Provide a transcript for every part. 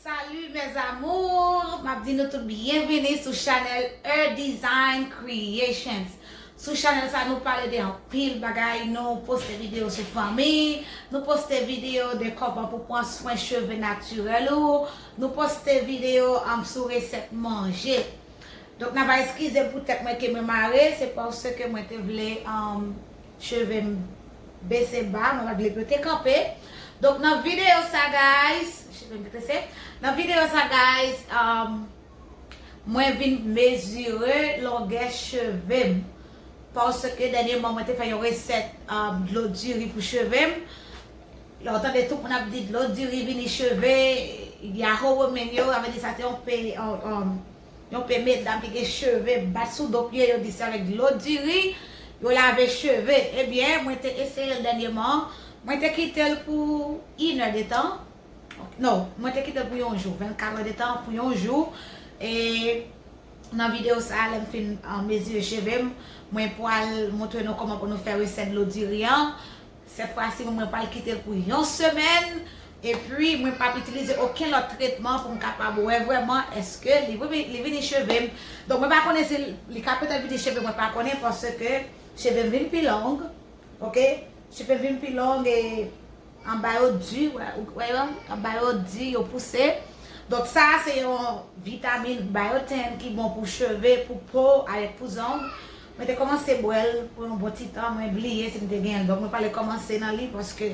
Salut mes amours map di nou tout byenvini sou chanèl Eudesign creations sou chanèl sa nou pale de anpil bagay nou poste video sou fanmi nou poste video de kòman pou pran swen cheve natirèl ou nou poste video sou resèt manje Donk nan va eskize m pou tèt mwen ke mwen mare, se paske mwen te vle cheve m bese ba, mwen pa t vle pou yo te kanpe. Donk nan videyo sa guys, cheve m te trese, nan videyo sa guys mwen vin mezire longè cheve m. Paske dènyeman mwen te fè yon resèt dlo diri pou cheve m. Lè w tande tout moun ap di dlo diri vini cheve, yahoo women yo, sa vle di sa se yon. Yon pe medam ki gen cheve bat sou do pye yo di se avèk dlo diri yo lave cheve ebyen mwen te eseyel dènyeman mwen te kitel pou inè de tan no mwen te kitel pou yon jou 24 è de tan pou yon jou e nan video sa lèm fin mezire chevem mwen pwal moutre nou kòman pou nou fè resèt dlo diri an. Sèt fwa si mwen pral kite l pou yon semèn epi mwen pap itilize okenn lòt tretman pou m kapab wè vrèman eske li vini cheve m donk mwen pa konnen si li ka petèt vini cheve mwen pa konnen paske cheve m vin pi long ok cheve m vin pi long e anba yo di ou wè yo anba yo di yo pouse donk sa se yon vitamin biotin ki bon pou cheve pou po avèk pou zong Mwen te kòmanse bwèl pou yon bon ti tan mwen bliye si m te genyenl donk mwen pale kòmanse nan li paske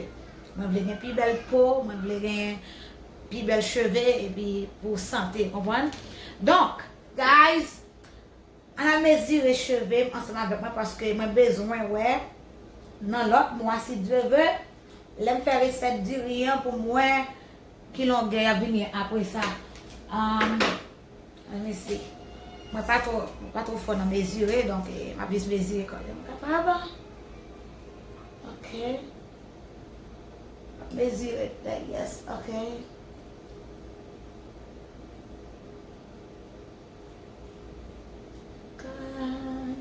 mwen vle gen pi bèl po mwen vle gen pi bèl cheve epi pou sante konprann donk guys ann al mezire cheve m ansanm avèk mwen paske mwen bezwen wè nan lòt mwa si Dieu veut lè m fè resèt diri an pou m wè ki longè yap vini apresa. Mwen mezi. Mwen pa two, mwen pa two fò nan mezire, donk m ap jis mezire kòm jan m kapab. Ok. M ap mezire tèg, yes, ok. Kay.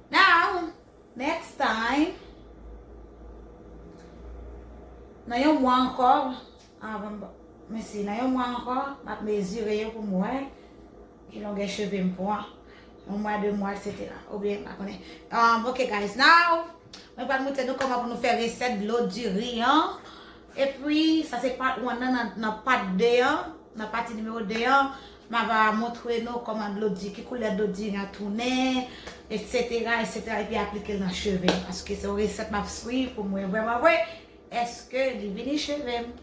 Now, next time, nan yon mwa ankò, avan m, mesi, nan yon mwa ankò, m ap mezire yo pou m wè ki longè cheve m pran, yon mwa, de mwa, etc. Ou byen, m pa konnen. Um, ok guys, now, mwen pral montre nou kòman pou nou fè resèt dlo diri an. E pwi, sa se part 1 nan, nan part 2 an, nan pati nimewo 2 an. Ma va montre nou kòman dlo di, ki koulè dlo di a tounen, etsetera, etsetera, epi aplike l nan cheve m. Paske se yon resèt m ap swiv pou m wè vrèman vre, èske li vini cheve m.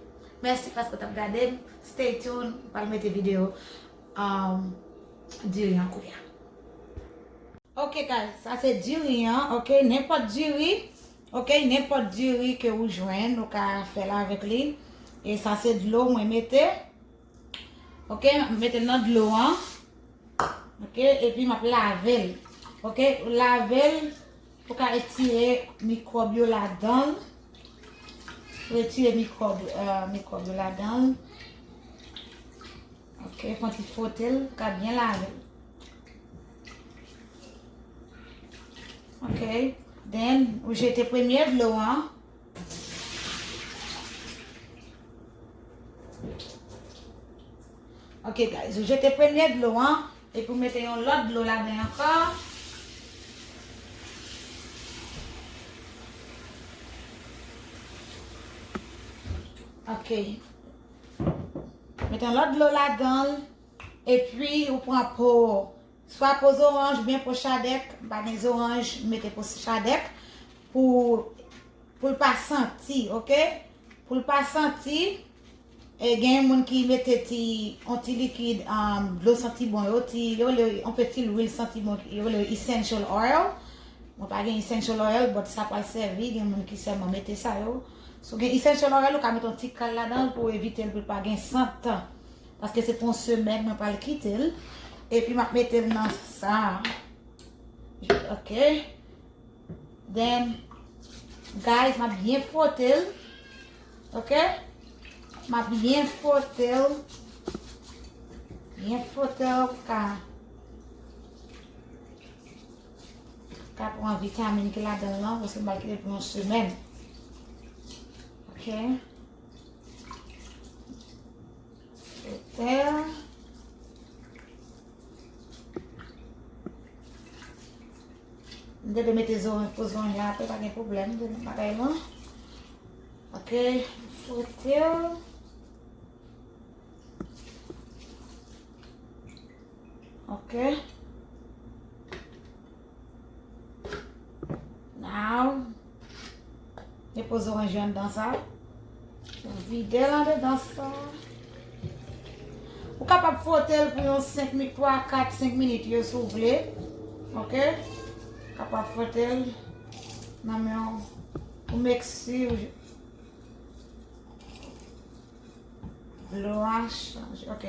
Mèsi paske w t ap gade m. Stay tune, m pral mete videyo diri an koulya. Ok guys, sa se diri an, ok. Nenpòt diri, ok, nenpòt diri ke ou jwenn, ou ka fè l avèk li. E sa se dlo mwen mete. Ok, m mete l nan dlo an. Ok, epi m ap lave l. Ok, ou lave l pou ka etire mikwòb yo ladan l. Pou etire mikwòb yo ladan l. Ok, fon ti fwote l pou ka byen lave l. Ok, den ou jete premye dlo an. Ok guys, ou jete premye dlo an, epi ou mete yon lòt dlo la den ankò. Ok. Mete yon lòt dlo la dan, epi ou pran po ou. Swa po zoranj oubyen po chadèk, m pa gen zoranj, m mete po chadèk pou pou l pa santi ok, pou l pa santi e gen yon moun ki mete ti yon ti likid dlo santi bon yo ti yo rele yo yon peti lwil santi bon yo rele yo essential oil mwen pa gen essential oil but sa pral sèvi gen moun ki sèlman mete sa yo si w gen essential oil ou ka mete yon ti kal ladan l pou evite l pou l pa gen sant. Paske se pou yon semèn mwen pral kite l. E pi m ap mete l nan sa. Ok. Then, guys, m ap byen fwote l. Ok. M ap byen fwote l. Byen fwote l pou ka. Ka pran vitamin ki la dan lan. Paske m pral kite l pou yon semèn. Ok. Mwen te mete zo yon poz yon yon apè pa gen problem de mwen apè yon. Ok, fote yo. Ok. Now, depoze oranj yo anndan sa. Ou vide l andedan sa. Ou kapab fwote l pou yon 5 minit, 3, 4, 5 minit yo sou vle. Ok? Kapab fwote l. Nan men yon pou meksi ou. Lou an chanj. Ok.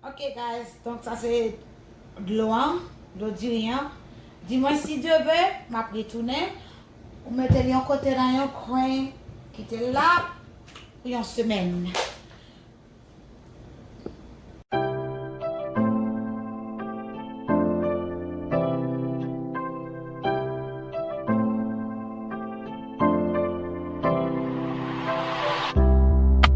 Ok guys donk sa se dlo an dlo diri an di mwen si Dieu veut map retounen ou metel yon kote nan yon kwen kitel la pou yon semèn.